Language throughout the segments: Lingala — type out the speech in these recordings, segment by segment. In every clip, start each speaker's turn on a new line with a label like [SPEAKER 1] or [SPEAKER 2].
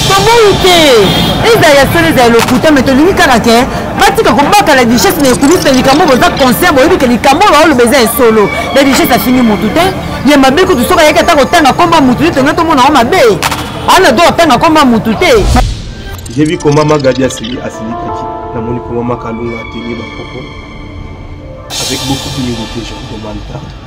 [SPEAKER 1] toboyi te ezala ya solo ezala lokuta me tolingi kaka ke batika kobaka la richesse na ekulusu na likambo boza conscient boyebi ke likambo oyo baoloba eza ya solo la richesse afingi motu te ya mabe kutu soki ayaki ata kotanga nkomba motu te tonga tomona yango mabe ana do atanga nkomba motu te
[SPEAKER 2] jebi koma magadi asili asilikaki namoni koma makalunga atenge bakoko avec beaucoup de niveau que je vous demande pardon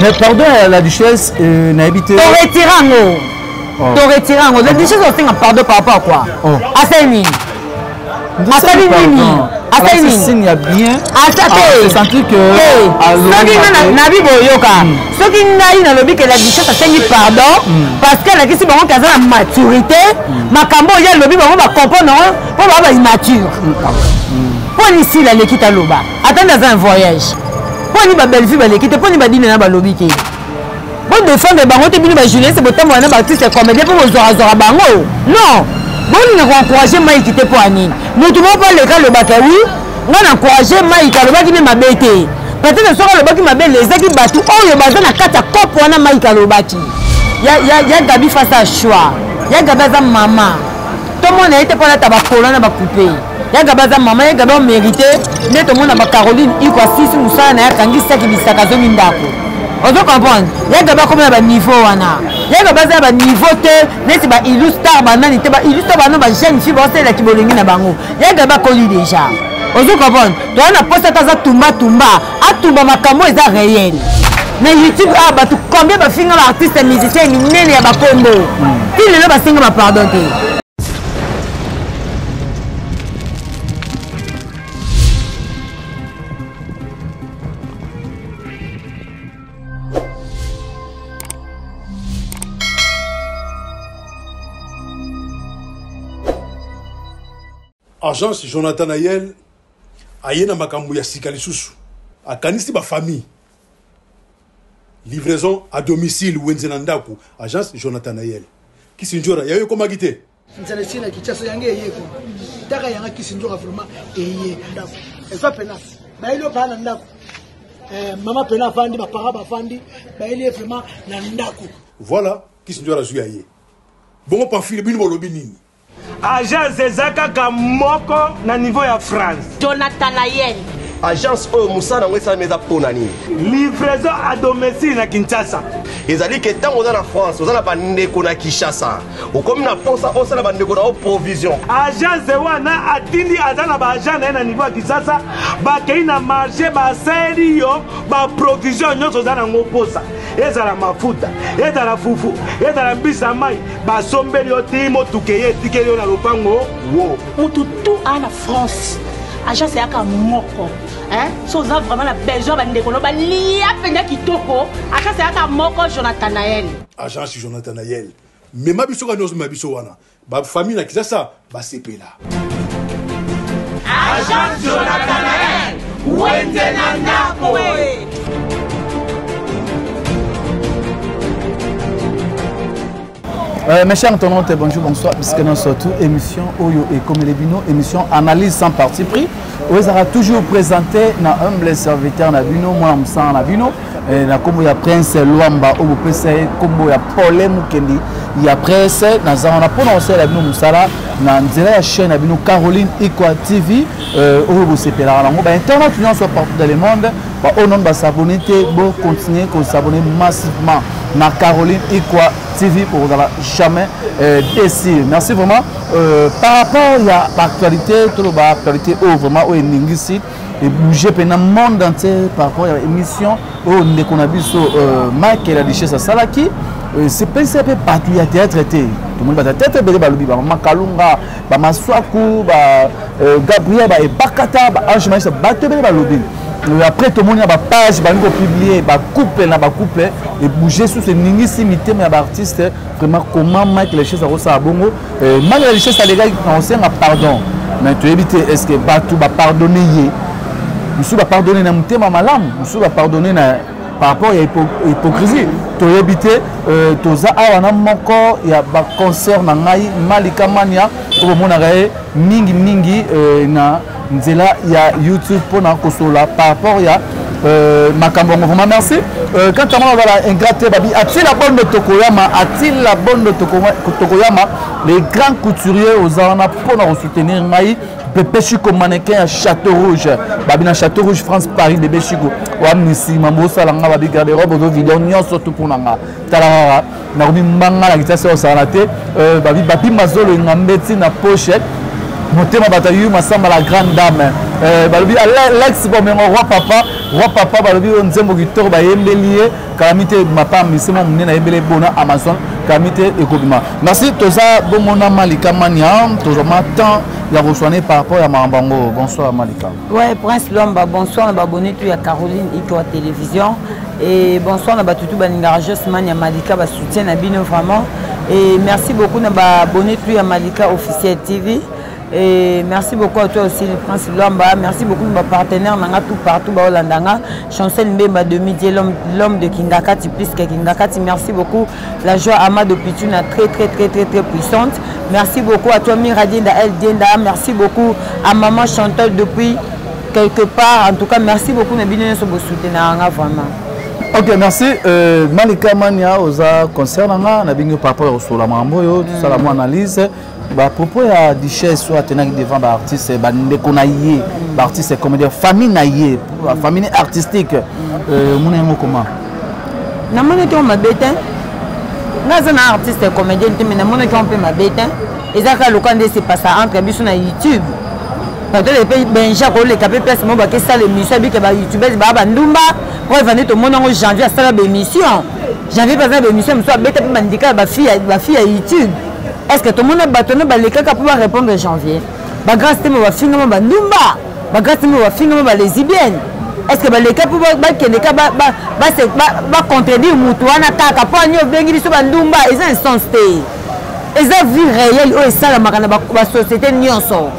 [SPEAKER 3] mais pardon ya la duchesse euh, nayebi te toretire yango oh.
[SPEAKER 1] toretire yango la duchesse osenga pardon par rapport quoi oh. asali nini asali nini asali nini signe
[SPEAKER 3] ya bien asa te ah, sentir
[SPEAKER 1] que
[SPEAKER 3] ah, soki nga nabi boyoka
[SPEAKER 1] hmm. soki ngai nalobi ke la duchesse asengi pardon hmm. parce que alakisi bango ke aza na maturité hmm. makambo oyo alobi bango bacomprendre yango mpo bango ba immature mpo lisila aleki taloba ata nde aza na voyage mpo ani babellevue baleki te mpo ni badine na balobi te bodefendre bango te bino bajournaliste botambola na baartiste comédien mpo bozorazora bango non bolinga koencourage maiki te mpo ya nini motu moko mpo aleka alobaka wi ngai na encourage maiki alobaki nde mabe te peut-être soki alobaki mabe lezaki bato oyo baza na kati ya kope wana maiki alobaki ya gabi face a choix ya gabi aza mama tomona ye te mpo alata bakolo na bakupe ya gaba aza mama ya gaba omerite nde tomona ba caroline iko asisi mosala na ye akangisaki bisaka azongi ndako ozo comprendre ya gaba akomi na baniveau wana ya gaba aza na baniveau te neti ba illustar banani te ba illustar bano ba jeune fille baosalela kibolongi na bango ya gaba akoli deja ozo comprendre toza na posa ata aza tumba tumba atumba makambo eza réel na youtube awa ah, bato combien bafinga ba artiste musicien minene ya bakombo ti lelo basenga ba pardon te
[SPEAKER 4] agence jonathan ayel aye na makambo ya sika lisusu akanisi bafamille livraison à domicile wenze na ndako agence jonathan ayel kisinjora yayo ekomaki te nzala esi na kinshasa
[SPEAKER 5] yango eye ko taka yanga kisi nzoka vraiment eye ndako eza pena bayeli yo baa na ndako eh, mama pena avandi bapara bavandi bayeli ye vraiment na ndako voilà kisi
[SPEAKER 4] nzoka azwi ya ye bongo pamfile bino bolobi nini agence
[SPEAKER 6] eza kaka moko na niveau ya france jonathan ayeni
[SPEAKER 7] agence oyo
[SPEAKER 8] mosala yango esalami eza mpo na nini livraison
[SPEAKER 6] a domicile na kinshasa ezali ke ntango
[SPEAKER 8] oza na france oza na bandeko na kinshasa okomi na mposa osala bandeko na yo provision agence wana
[SPEAKER 6] atindi aza na baagent na ye na niveau ya kisasa bakei na marché basali yo baprovision nyonso oza nango mposa ezala mafuta ezala fufu ezala mbisi ya mai basombeli yo ti motuka eye etikeli yo na lopango wo motu
[SPEAKER 8] tu aa
[SPEAKER 7] na france agence eyaka moko so oza vraiment na besoin bandeko no balia mpenza kitoko agence eyaka moko jonathan nael agence jonathan
[SPEAKER 4] nael Mema biso kani ozomema biso wana. Ba famille na Kisasa basepela.
[SPEAKER 7] Agent Jonathan Nael, wende na ndako.
[SPEAKER 3] Euh, mes chers internautes, bonjour, bonsoir, puisque nous sommes tout émission Oyo et comme les Bino, émission analyse sans parti pris. oyo ezalaka toujours présenté na humble serviteur na bino mwana mosala na bino eh, na nkombo ya prince lwamba oyo bopesa ye nkombo ya pole mokendi ya prince naza wana mpo na kosalela bino mosala na nzela ya chaîne na bino caroline equa tv eh, oyo bosepelaka nango bainternet nyonso partout dans le monde baoyo nono basabone te bocontinue kosabone massivement na caroline equa tv mpo kozala jamais eh, décile merci vraiment Euh, par rapport ya baactualité toloba actualité oyo vraiment oyo eningisi ebouge mpe na monde entier par rapport ya émission oyo ndeko na biso euh, michael adichese asalaki euh, sepelisi mpe bato ya théâtre te tomoni bato ya théâtre ebele balobi bamama kalunga bamaswaku ba gabriel baebakata baange maisa bato ebele balobi après tomoni na bapage balingi kopiblie bacouple na bacouple ebouge susu eningisi mitema ya baartiste vraiment comment mike lechese akosala bongo euh, mike la lechese alekaki kosenga pardon mais toyebi te est ce que bato bapardonne ye mosusu bapardonne na motema malamu mosusu bapardonne na par rapport ya hypocrisie toyebi te euh, toza awa na moko ya baconcert na ngai malika mania tokomonaka ye mingimingi euh, na nzela ya youtube mpona kosolola par rapport ya euh, makambo yango vraiment merci euh, kaka mwana azala ingrat te babi atila bondo tokoyama atila bondo tokoyama le grand couturier oza wana mpona kosoutenir ngai bebe chico mannequin ya château rouge babi na château rouge france paris bebe chico oamnisima bosala nga babi garde robe ozo video nyonso tu mpona nga tala kaka nakomi mbanga na kitasi osala te euh, babi mazolo engambe ti na poche motema bato ayu masamba la grande dame euh, balobi alex bomengo roi papa roi papa balobi oyo nzembo kitoko bayembeli ye kalami te mapa misemo monene ayembeli ebona amazon kalami te ekobima merci toza bongo na malika mania tozwama temps ya koswane par rapport ya makambo yango bonsoir malika Ouais, Prince Lomba, bonsoir na babonne tout ya Caroline Itoa Télévision et bonsoir na batutu balingaka Josman ya Malika ba soutien na bino vraiment et merci beaucoup na babonne tout ya Malika officiel TV et merci beaucoup à toi aussi le Prince Lomba, merci beaucoup na partenaire nanga tout partout ba Holandanga, Chancel Mbemba demi l'homme de Kingakati plus que Kingakati, merci beaucoup La joie Amado Pituna, très très très très très puissante. Merci beaucoup à toi Miradienda El Dienda. Merci beaucoup à maman Chantal depuis quelque part. En tout cas, merci beaucoup na bino nyoso bo soutenir nga vraiment. ok merci euh, malika mania oza concert na nga na bingi par rapport ya kosola makambo oyo tosala mwa analyse ba propos ya duchesse oyo atenaki devant ba artiste bandeko na ye ba artiste comédien famille na ye famille artistique euh, omona yango comment namonaki yango mabe te nga aza na artiste comédienne te mai namonaki yango mpe mabe te eza kaka loka nde sepasa entre biso na youtube peut-être mpe benja koleka mpe place moko bakesala émission abike ba youtubese baa bandumba mpo evandi tomoni yango janvier asala baémission janvier mpe aza na baémission mosusu abeta mpe bandika ya bafille ya youtube est ce que tomona bato wana balekaka mpo barépondre janvier bagrâce te mo bafingama bandumba bagrâce te mo bafingama balesibienne est ce que baleka mpo bakende ka bacontredire motu wana kaka mpo ani obengi biso bandumba eza instance te eza vie réelle oyo esalamaka na basociété nyonso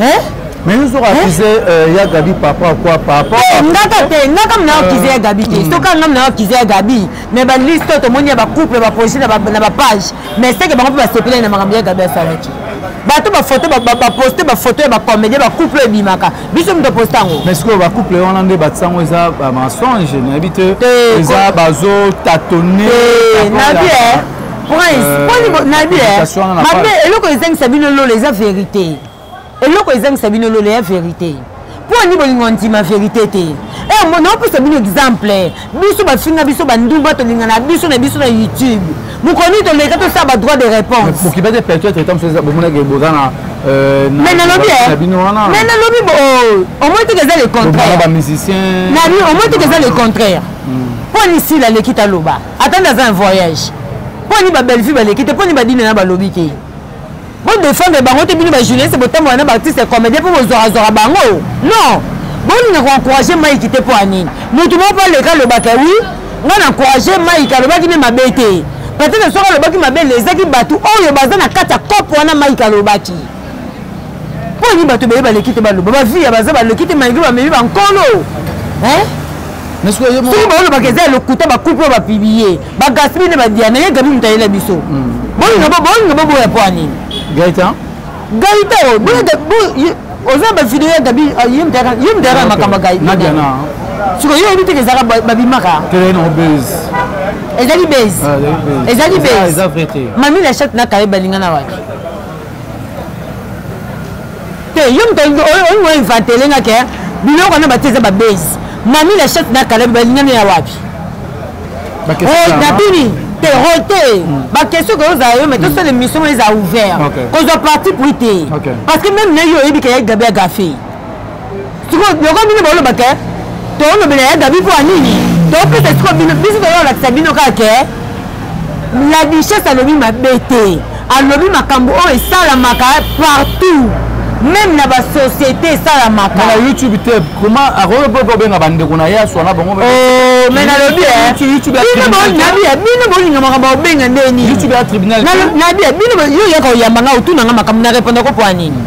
[SPEAKER 3] hein mais yo soki akize euh, ya gabi papa quoi papa eh, ngaka te ngaka mna akize ya gabi te euh. soki anga mna akize ya gabi mais baliste oyo tomoni ya bacouple baprojet na bapage mais seke bango mpe basepelai na makambo ya gabi asalaki bato bafoto baposte bafoto ya bacomédien bacouple oyo ebimaka biso moto oposte yango mais sikoyo bacouple wana nde batisa yango eza bamensonge nayebi te eza bazotatone nabi prince euh, poni nayebi mabe eloko ezangisa bino lola eza verité eloko ezangisa bino lola ya verité mpo ani bolingo ndima verité te eh, naopesa bino exemple biso bafinga biso bandumba tolinga na biso na biso na youtube mokoni toleka tosala badroit de réponse Euh, mais nalobi eh. mais nalobi oh, omoi teke eza le contraire omoi teke eza le contraire mpo hmm. nisi laleki taloba ata nde aza na voyage mpo ani babellevue baleki te mpo ni badina na balobi te bodefendre bango te bino bajournaliste botambola na baartiste comédien mpo bozwarazwara bango non bolinga koencourage maiki te mpo ya nini motu moko mpo aleka alobaka wi ngai na encourage maiki alobaki nde mabe te peut-être soki alobaki mabe lezaki bato oyo baza na kati ya cope wana maiki alobaki mpo nini bato ebele baleki te baloba bavi ya baza baleki te malgre bamemi bankolo soki baolobaka eza ya lokuta bakupe oyo bapiblie bagaspi nde badiana ye gabi moto ayela biso hmm. bolinga boboya mpo ya nini gaita gaita oyo oza bavideo ya gabi ah, ye moto ayaka makambo ya gaita siko yo oyebi teke ezaka babimaka ezali base ezali base mami la chatte na kaye balingana wapi te yo moto olingi oinventele nga ke biloko wana batie eza babase mami la chef na kalabi balingani ya wapi nabini te role te baquestion koyo ozala yo mai tosala émission oyo eza ouvert kozwa parti pris te parce que meme na yo oyebi ke ya gabi agafe
[SPEAKER 1] sikoyo loko bino boloba ke tolobela ya gabi mpo ya nini topesa sikoyo bino biso toyolakisa bino kaka ke la duchesse alobi mabe te alobi makambo oyo esalamaka partout meme na basociété esalamaka na youtube te
[SPEAKER 3] koma akoki mpe kobenga bandeko na ye aswana bango me oh,
[SPEAKER 1] nalobi eh. bino bolinga makambo obenga nde nininabi
[SPEAKER 3] bino
[SPEAKER 1] yo yaka oyamba nga otuna nga makambo na repondako mpo ya nini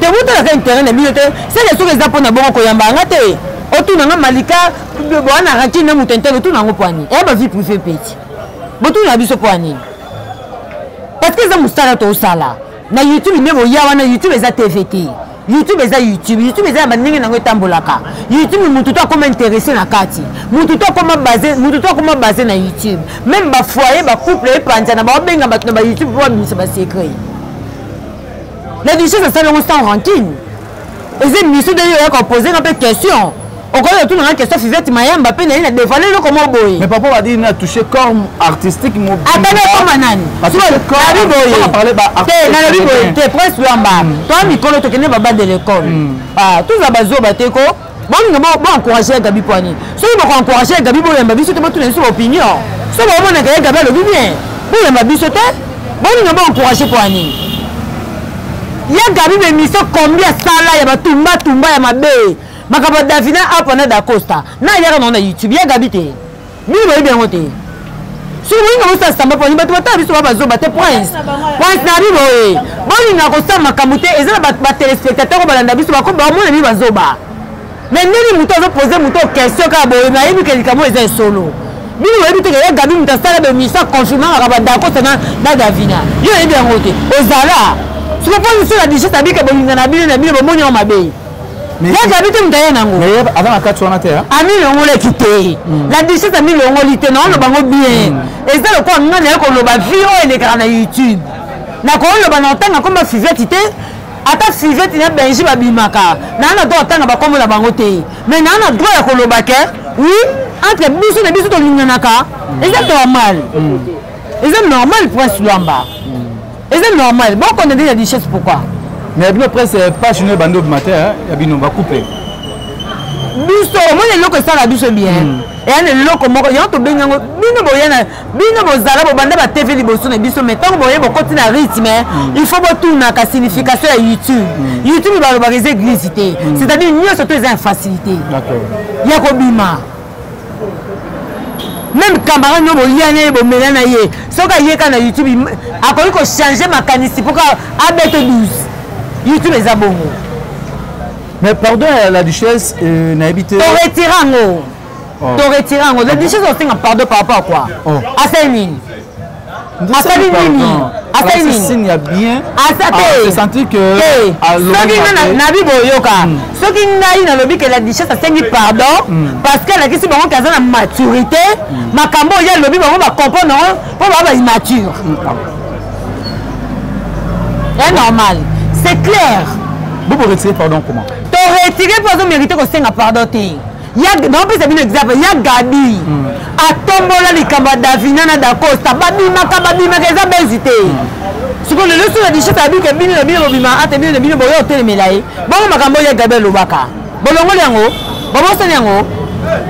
[SPEAKER 1] te botalaka interet na bino te seke soki eza mpona bongo koyamba yanga te otuna nga malika bowana rakine na moto interne otuna yango mpo anini eya bavie privé peti botunaka biso mpo anini parce que eza mosala tosala na youtube nde boya wana youtube eza tv te youtube eza youtube youtube eza ya bandenge nango etambolaka youtube motu to akoma interesse na kati motu to akoma base motu to akoma base na youtube meme bafoye bacouple epanzana baobenga bato na bayoutube mpo babimisa basecret la duchesse asali yango sans rancune eza émission ndenge oyaka opose nga mpe question okoki kotuna nga question fivete mayamba mpe naye na devale eloko moko boye mais papa badi na touche
[SPEAKER 3] corps artistique ata nakoma nani
[SPEAKER 1] abi boye te nalobi boye te prince lwamba toa mikolo tokende babande lekole toza bazoba te ko bolinga bo encourage ya gabi poani soki boko encourage ya gabi boyamba biso te botuna biso baopinion so bomonaka ye gabi alobi bien boyamba biso te bolinga bo encourage poani ya gabi bemission combien sala ya batumbatumba ya mabe makambo davina apa na dacosta na yaka nao na youtube ya gabi te bino boyebi yango te soki bolinga bosala samba poni bato batala biso ba bazoba te prince prince na bibo ye eh. bolinga kosala makambo te eza na batelespectateur oyo balanda biso bamona bino bazoba me ndenge moto azopose moto question kaka boye nayebi ke likambo eza esolo bino boyebi te keye gabi moto asala bemisa confirmangaka badakosa na davina yo oyebi yango te ozala soki mpo misala digeste abika bolinga na bino na bino bomoni yango mabe yazabi te moto aya nango aza na kati wana
[SPEAKER 3] te amilongolaki
[SPEAKER 1] te hmm. la duchesse amilongoli te naono bango bien hmm. eza lokola nga naye koloba vi oyo elekaka na youtube nakoloba na otanga komba fiveti te ata fiveti na benji babimaka naa na droit otanga bakombo na bango te mai naa na droit ya koloba ke wi entre biso na biso tolinganaka hmm. eza normal eza normal prince lwamba eza normal bokona nde na duchesse pourquoi mais ya bino presse
[SPEAKER 3] eh, page no ebandi obima te eh, ya bino bakupe
[SPEAKER 1] biso omoni eloko esala biso bien hmm. eya na eloko moko yango tobengi yango bino boya na bino bozala bobanda ba tv liboso na biso mai ntango boye bokoti na rythme hmm. il faut botunaka signification ya youtube hmm. youtube balobaka eza eglise te c'est à dire nyonso to eza ya facilité ya
[SPEAKER 3] kobima
[SPEAKER 1] meme camarade no bolia na ye bomela na ye soki aye kaka na youtube akoki kochange makanisi mpo kaka abete 12 youtube eza bongo
[SPEAKER 3] mais pardon euh, la duchesse euh, nayebi te toretire yango
[SPEAKER 1] oh. toretire yango la duchesse osenga pardon par rapport a quoi oh. asali nini asali nini asali
[SPEAKER 3] nini signe ya bien asa te ah, se sentir
[SPEAKER 1] que
[SPEAKER 3] ah, soki nga
[SPEAKER 1] na bi boyoka hmm. soki ngai nalobi ke la duchesse asengi pardon hmm. parce que alakisi bango ke aza na maturité hmm. makambo oyo alobi bango bacomprendre yango mpo baa ba immature est normal c'est clair bobo retire
[SPEAKER 3] pardon comment to retire mpo
[SPEAKER 1] azomérite kosenga pardon te naopesa bino exemple ya gabi mm. atombola likambo ya davina na dacosta babimaka babimaka eza bezi te sikoyo lelo soki adishete abike bino na bino bobima ate bino na bino boya otelemela ye bongo makambo oyo ya gabi alobaka bolongoli yango babosani yango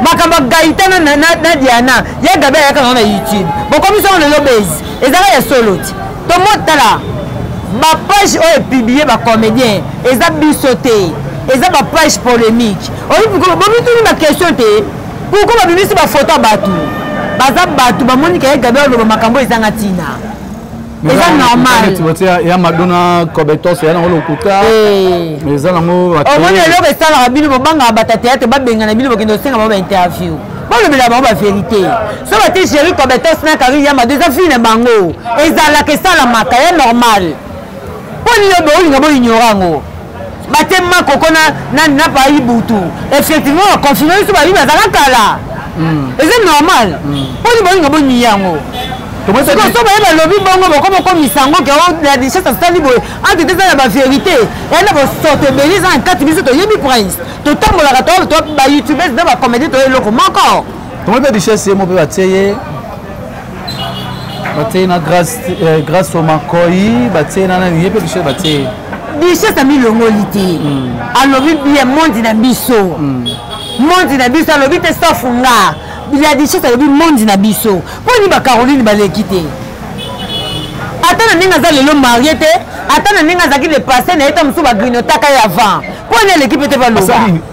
[SPEAKER 1] makambo ya gaitana na diana ya gabi ayaka nango na youtube bokomi songo lelo bezi ezaka ya solo ti tomotala bapage oyo epublie bacomédien eza biso te eza bapage polémique bomituni baquestion te pourkoi babimisi bafoto ya bato baza bato bamoni kaye gabriel aloba makambo ezanga ntina eza normalya madona
[SPEAKER 3] cobetos ya nango lokuta eh. eza nango omoni eloko esalaka
[SPEAKER 1] bino bobangaka bata teatre babengana bino bokende kosenga bango bainterview bolobela bango baverité so bati géri cobetos na kari ya mado eza fili na bango ezalaka esalamaka ya normal mpo nini olinga boignora yango bate makoko na na na pa ibutu effectivement ba confirmer biso ba biba zaka kala hmm. eza normal hmm. poni bolinga boni yango soso baye balobi bongo boko bokomisa yango ke oh, la richesse asali boye ante te eza na baverité eya na bosoto ebele eza na kati biso toyebi prince totambolaka to bayoutubes na bacomédie toye eloko moko tomoni mpe richesse
[SPEAKER 3] ye mo mpe batie ye batie na grace eh, grace omakoi batie na nani ye mpe bichel batie bichel
[SPEAKER 1] amilongoli te hmm. alobi bie mondi na biso hmm. mondi na biso alobi te safunga ya bichel alobi mondi na biso mpo nini bacaroline baleki te ata na ndenge aza lelo marie te ata na ndenge azalaki depasse na ye ta mosusu bagrinotaka ye avant mpo nini aleki mpe te baloba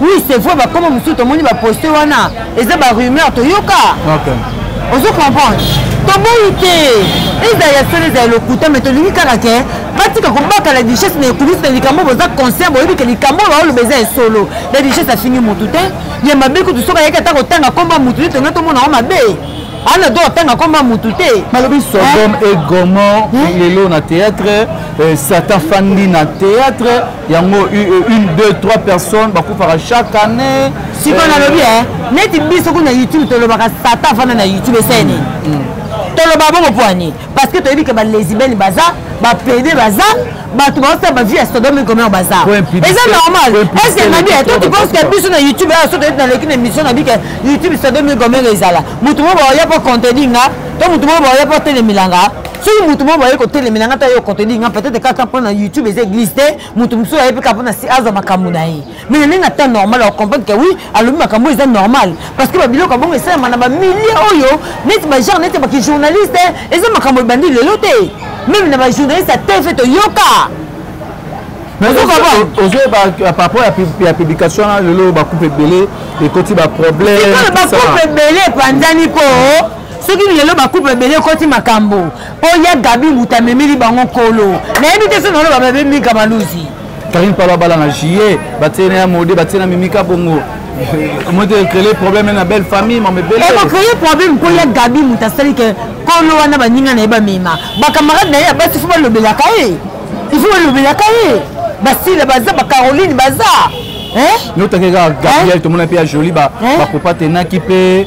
[SPEAKER 1] oui c'est vrai bakoma mosusu tomoni baposte wana eza barumeur toyoka
[SPEAKER 3] ozo
[SPEAKER 1] comprendre toboyi te ezala ya solo ezala lokuta me tolingi kaka ke batika kobaka la duchesse na ekulisi na likambo oyo boza conscient boyebi ke likambo oyo baoloba eza ya solo la duchesse afingi motu te ya mabe kutu soki ayaki ata kotanga nkombo ya motu te tonga tomona yango mabe ana do atanga nkombo ya motu te balobi sodome
[SPEAKER 3] et gomor lelo na théâtre eh, satan fandi na théâtre yango une deux trois personnes bakufaka chaque année sikoyo nalobi eh,
[SPEAKER 1] neti biso kuna youtube tolobaka sata afanda na youtube eseni mm, mm. toloba bongo mpo ani parce que toyebi ke balesibene baza bapede baza bato baosala bavie ya sodome commer baza eza normal ese nabi to tiposke biso na youtube ayo soki naleki na émission na bike youtube sodome commer ezala moto moko baoya mpo conteni nga to moto moko baoya mpo telemilanga soki motu moko bayei kotelemela ngai ta yo kotodi ngai peut-être kaka mpo na youtube eza église te motu mosusu ayebi kaka mpo na si azwa makambo na ye mais na ndenge na temps normal akokomprendre ke oui alobi makambo eza normal parce que babiloko ya bongo esalama na bamilie oyo neti bagenre neti bakijournaliste eza makambo ebandi lelo te meme na bajournaliste ya tv toyoka
[SPEAKER 3] ozoye paraport ya publication wana lelo bacoupe ebele ekoti baproblème bacoupe
[SPEAKER 1] ebele epanzani mpo soki lelo bakupe ebele ekoti makambo mpo ya gabi mbuta amemeli bango nkolo nayebi te so naloba babemika maluzi karine palo abala
[SPEAKER 3] na juillet batie na ya mode batie na mimika bongo moto ecrele problème na belle famille mamebeleekocreye problème mpo
[SPEAKER 1] ya gabi moto asali ke kolo wana baninga na ye bamema bacamarade na ye ya basi fo balobelaka ye ifo balobelaka ye basila baza bacaroline baza notake kaka
[SPEAKER 3] gabriel tomona mpe ya joli bakopatenaki mpe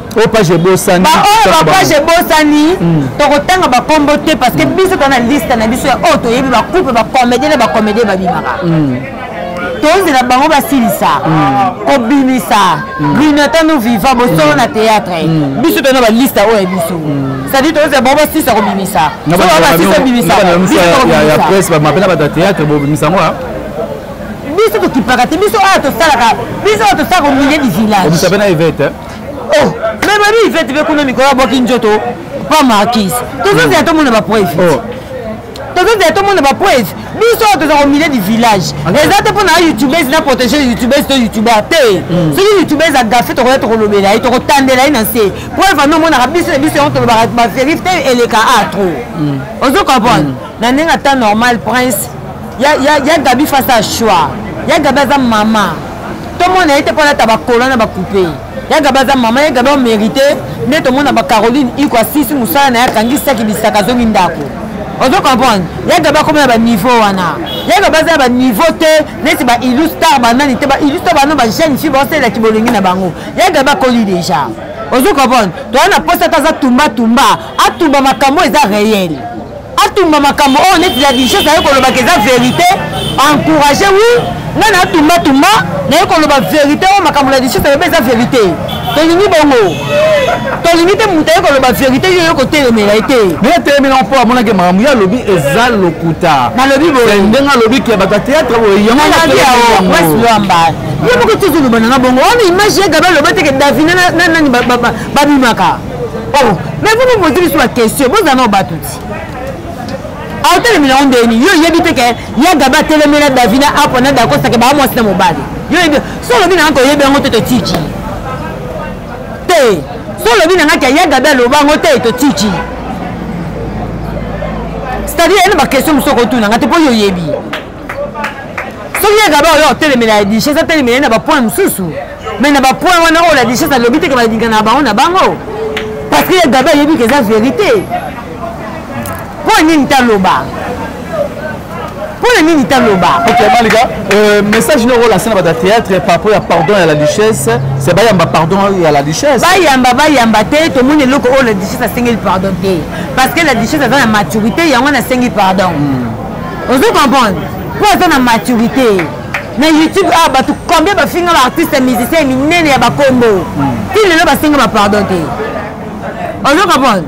[SPEAKER 1] oyo page
[SPEAKER 3] ebosani baoyo bapage
[SPEAKER 1] ebosani hmm. tokotanga bakombo te parce que hmm. biso toza na liste na biso ya oyo toyebi bacouple bacomédien na bacomédien babimaka hmm. tozela bango basilisa kobimisa grinotin no viva bosolo na théâtre biso toza na baliste oyo ya biso c'est-à-dire tozela bango basilisa kobimisa basisa bimisa
[SPEAKER 3] bamapena bato ya théâtre bobimisa ngo biso
[SPEAKER 1] tokipaka te biso oyo tosalaka biso oyo tosalaka au milieu du village
[SPEAKER 3] oh
[SPEAKER 1] mais babi ifete mpe kuna mikolo abwaki nzoto pa markise tozozela tomona bapreuve oh. tozozela tomona bapreuve biso oyo toza komilie du village eza te mpo na youtubese na protege youtubese to youtuber te hmm. soki youtubese agafe tokoya tokolobela ye tokotandela ye na nse preuve ami omonaka biso na biso yango tolobaka baverif te eleka a trop hmm. ozo comprendre hmm. na ndenge ata normal prince ya gabi face a choix ya gabi aza mama tomona ye te mpo alata bakola na bakupe ya gabi aza mama ya gabi omerite nde tomona bacaroline iko asisi mosala na ye akangisaki bisaka azongi ndako ozo comprendre ya gabi akomi na baniveau wana ya gabi aza na baniveau te neti baillustar banani te baillustar bano bajeune fille baosalela kibolingi na bango ya gabi akoli deja ozo comprendre toza na posa ata aza tumbatumba atumba makambo eza reel atumba makambo oyo neti la dichos aye kolobaka eza verité encourage wi ngai na atumba tumba naye koloba verité oyo makambo la dichos ayebi eza verité tolingi bongo tolingi te moto aye koloba verité yo yo kotelemela ye te me etelemela mpo amonaki
[SPEAKER 3] makambo ye alobi eza lokuta nalobi boye
[SPEAKER 1] ndenge alobi ke bato ya
[SPEAKER 3] teatre boye yangoyangowamba
[SPEAKER 1] ye moko tozolobana na bongo wana image ya gabe aloba teke davina na nani babimaka oh mais vous me posez biso ba question bozala nao bato ti aotelemela yo ndeni yo oyebi te ke ya gabe atelemela davina apo na dakosake baa mwasi na mobali yo oyebi so olobi na yango toyebi yango te totiki te so olobi na ngai ke ya gabe aloba yango te totiki c'est-à-dire ena baquestion mosusu okotuna ngai te mpo yo oyebi soki ya gaba oyo otelemela ya dichese atelemela ye na bapoint mosusu mai na bapoint wana oyo la dichese alobi teke balingana na bango na bango parce que ya gaba ayebi ke eza verité mpo na nini taloba mpo na nini
[SPEAKER 3] taloba ok malika euh, message noko olasi na bato ya théâtre par rapport ya pardon ya la duchesse se bayamba pardon ya la duchesse bayamba bayamba
[SPEAKER 1] te tomoni eloko oyo la duchesse asengeli pardon te parce que la duchesse aza na maturité yango wana asengi pardon mm. ozo comprendre mpo aza na maturité na youtube awa ah, bato combien bafinga baartiste musicien minene ya bakombo hmm. ti lelo basenga bapardon te ozo comprendre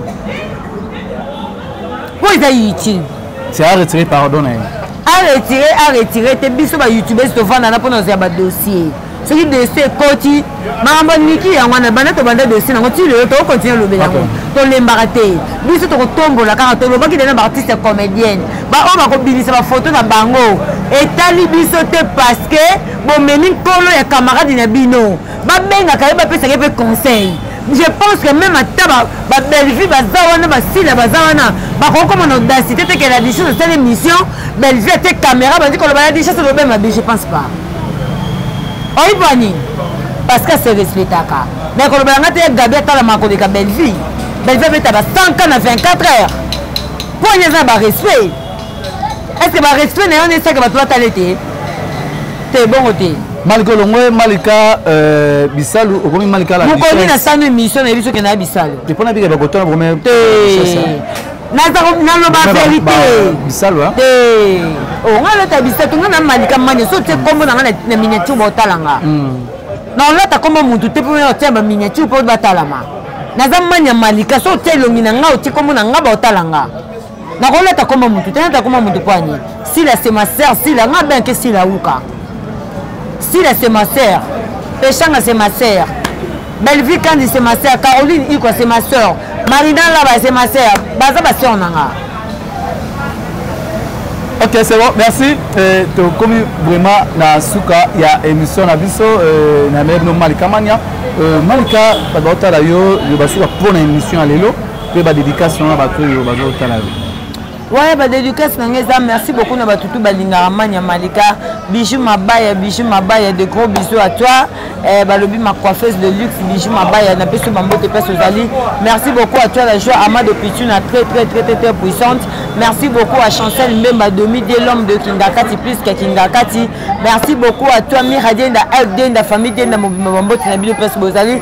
[SPEAKER 1] mpo eza youtube c'est à retirer
[SPEAKER 3] pardon na ye a retire
[SPEAKER 1] a retire te biso ba youtubers tovandana mpo na ozwa badossier soki desi ekoti makambo niki yango wana banda tobanda desi nango ti lelo tokokontinue olobe yango tolembaka te biso tokotombola kaka tolobaki dena baartiste ya comédienne baoyo bakobimisa bafoto na bango etali biso te parceke bomemi nkolo ya camarade na bino babengaka ye bapesaka ye mpe conseil je pense que même ata babellevue baza wana basila baza wana bakoki komona audacité te ke la dichose asala émission bellevue ate caméra bandi koloba la dichose lobe mabe je pense pas oyiba nini parce que se respectaka mais kolobela nga te ye gabi atalama koleka bellevue bellevue abeta ba 100 ka na 24 heures mpo ene eza na barespect est ce que barespect na yo nesaka bato batala ete te bongo te malika olongwe
[SPEAKER 3] malika euh, bisalu okomi malika la mokoni na sano émission
[SPEAKER 1] na ye biso kenda ya bisalu te mpo na bika bakotona
[SPEAKER 3] bokomi
[SPEAKER 1] naloba verité
[SPEAKER 3] o
[SPEAKER 1] ngai alata bisato ngai na malika mani so tie nkombo na ngai na miniature baotala nga na olata nkombo motu te mpo otia baminiature mpo batalama naza mani ya malika so otia elongi na ngai otie nkombo na ngai baotala nga nakolata nkombo motu te nata nkombo motu mpo ani sila se ma sœur sila nga benke sila uka sila se ma sœur peshanga se ma sœur Bellevue Kandi c'est ma sœur, Caroline Iko c'est ma sœur, Marina Laba c'est ma sœur, baza ba sœur nanga.
[SPEAKER 3] Ok, c'est bon, merci. Euh, tokomi vraiment na suka ya émission na biso euh, na mère no Malika Mania. Euh, Malika bato baotala yo yo basuka mpo na émission ya lelo mpe badédication na bato oyo bazotala yo. waya ba
[SPEAKER 1] dédicace na ngai eza merci beaucoup na batutu balingaka mania malika bijou mabaya bijou mabaya de gros bisous à toi eh, balobi ma coiffeuse de luxe bijou mabaya napesi yo bambote place ozali merci beaucoup à toi la joie ama de pituna très très très très très puissante merci beaucoup à chancel mbemba domi de l'homme de kingakati plus que kingakati merci beaucoup à toi mira denda elf denda famille denda mobimba bambote na bino place bozali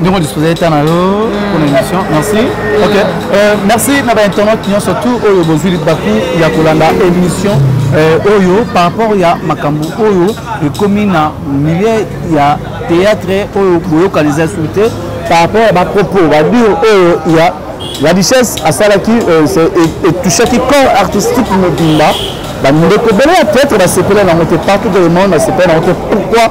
[SPEAKER 1] ndenge odisposa eta na yo
[SPEAKER 3] mpona émission merci ok euh, merci na bainternaute nyonso tout oyo bozwi baku ya kolanda émission euh, oyo par rapport ya makambo oyo ekomi na milieu ya théâtre oyo boyokani eza su te par rapport ya bapropos badir oyo ya la richesse asalaki euh, etouchaki corps artistique mobimba bandeko ebele ya théâtre basepela nango te partout de le monde basepela nango te pourquoi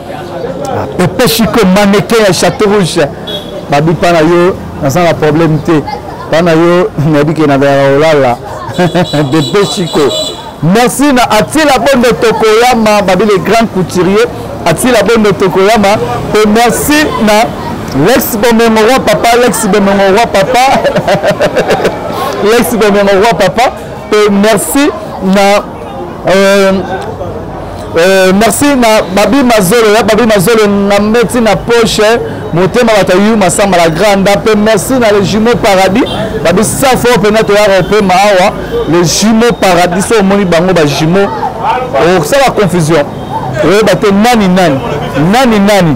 [SPEAKER 3] ah, pepe chico maneke ya chateau rouge babi mpa na yo naza na problème te mpa na yo nayebi ke nazalaka kolala pepe chico merci na atila bondo tokoyama babi le grand couturier atila bondo tokoyama mpe merci na lex bomengo roi papa lex bomengo roi papa lex bomengo roi papa mpe merci na euh, euh, merci na babi mazolo ya babi mazolo na meti na poche motema bato yu masamba la grande mpe merci na le jumeau paradis babi safo mpenza toyaka opema awa le jumeau paradis so omoni bango ba jumeau okosala confusion oyeba te nani nani nani nani